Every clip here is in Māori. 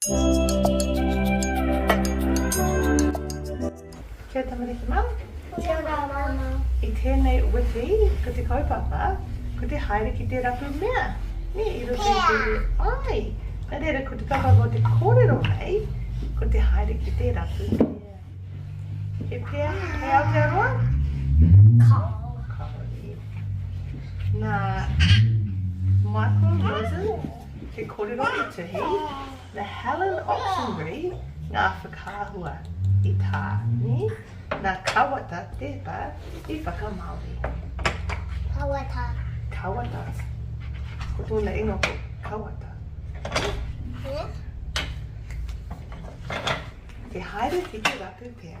Kia ora tamariki mā. Kia ora māmā. I tēnei wiki, ko te kaupapa, ko te haere ki te rapu mea. Nē, i roto i te reo. Āe. Nā reira, ko te kaupapa o te kōrero nei, ko te haere ki te rapu mea. He pea, he Aotearoa? Kāore. Kāore. Nā, Michael Rosen. Te korero i tuhi na Helen Ochtenbury nga whakaahua i ta ni na Kawata teta i whakamaori. Kawata. Kawata. Ko tona ingoa ko Kawata. Yes. Te haere ki te rapu pea.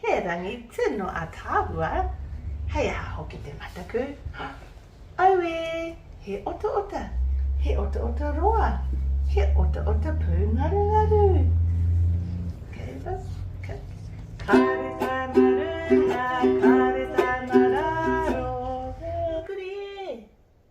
He rangi tino ataahua, hei aha hoki te mataku? Aue, he otaota, he otaota roa, he otaota pūngarungaru. Kei rā, kei. Kāre tāna runga, kāre tāna rāro. Hei kurī e,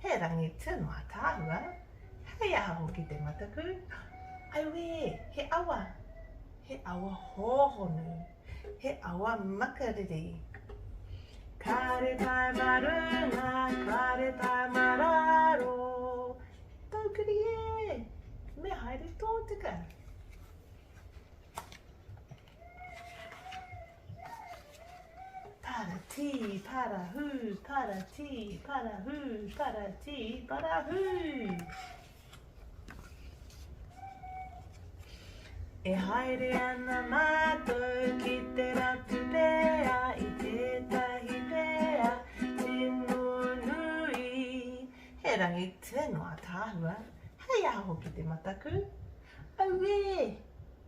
He rangi tū no ataahua, hei aha hoki te mataku, auē, he awa, he awa hōhonu, he awa makariri. Kāre tae ma runga, kāre tae ma raro, Taukiri ē, me haere tōtika. Para tī, para hū, para tī, para hū, para tī, para hū. E haere ana mātou ki te ratu pēa i tētahi pēa tino nui. He rangi tino ataahua, hei aho ki te mataku. Auē!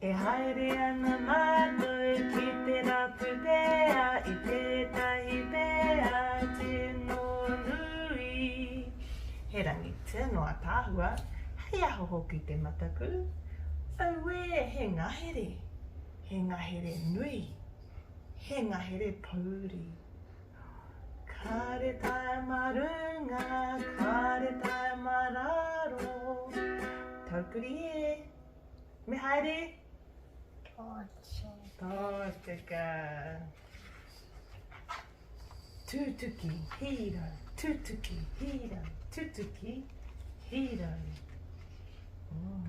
E haere ana mātou ki te rapu pēa i tētahi pēa tino nui. He rangi tino ataahua, hei aho hoki te mataku. Auē, he ngahere, he ngahere nui, he ngahere pouri. Kāre tae mā runga, kāre tae mā rāro. Taupuri e! Me haere? Tōtika. Tōtika. Tūtuki, hīra, tūtuki, hīra, tūtuki, hīra. Oh.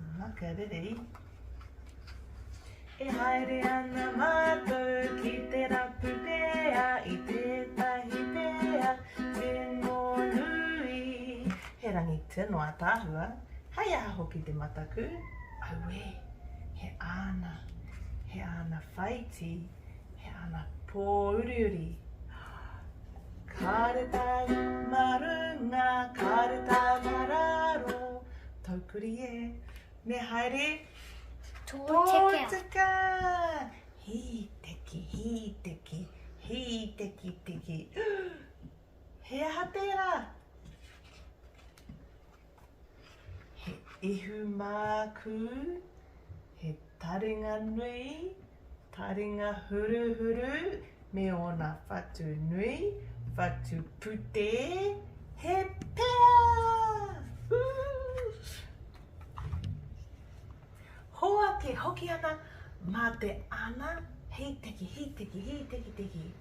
Aha, kia rere i. E haere ana mātou ki te rapu pēa i tētahi pēa tino nui. He rangi tino ataahua, hei aha hoki te mataku? Auē, he āna, he āna whaiti. He ana pōuriuri. Kāre tāu mā runga, kāre tāu mā rāro, taupuri e, me haere tōtika! Hī teki, hī teki, hī teki teki. He aha tērā? He ihu mākū, he taringa nui, taringa huruhuru me ōna whatu nui, whatu putē, he pea! Hoake hoki ana mā te ana hīteki, hīteki, hītekiteki.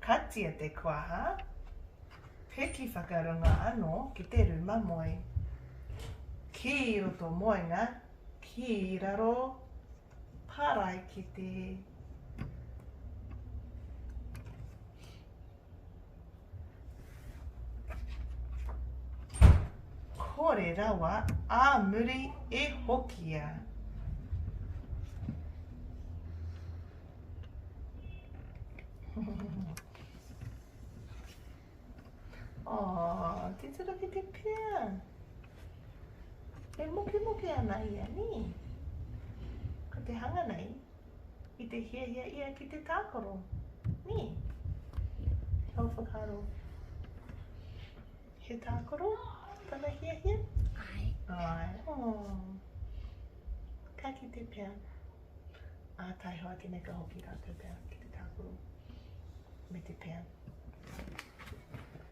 Katia te kuaha, piki whakarunga ano ki te ruma moe. Ki roto moenga, ki raro paraikete. Kore rawa a muri e hokia. Oh, titira ki te pia. E moke moke ana ia, ni? Ko te hanga nei, i te hiahia ia ki te tākaro, ni? Hau whakaro. He tākaro, tana hiahia? Ai. Ai. Oh. Ka ki te pia. Ā, taiho ake nei ka hoki rātou pea ki te tākuru me te pea.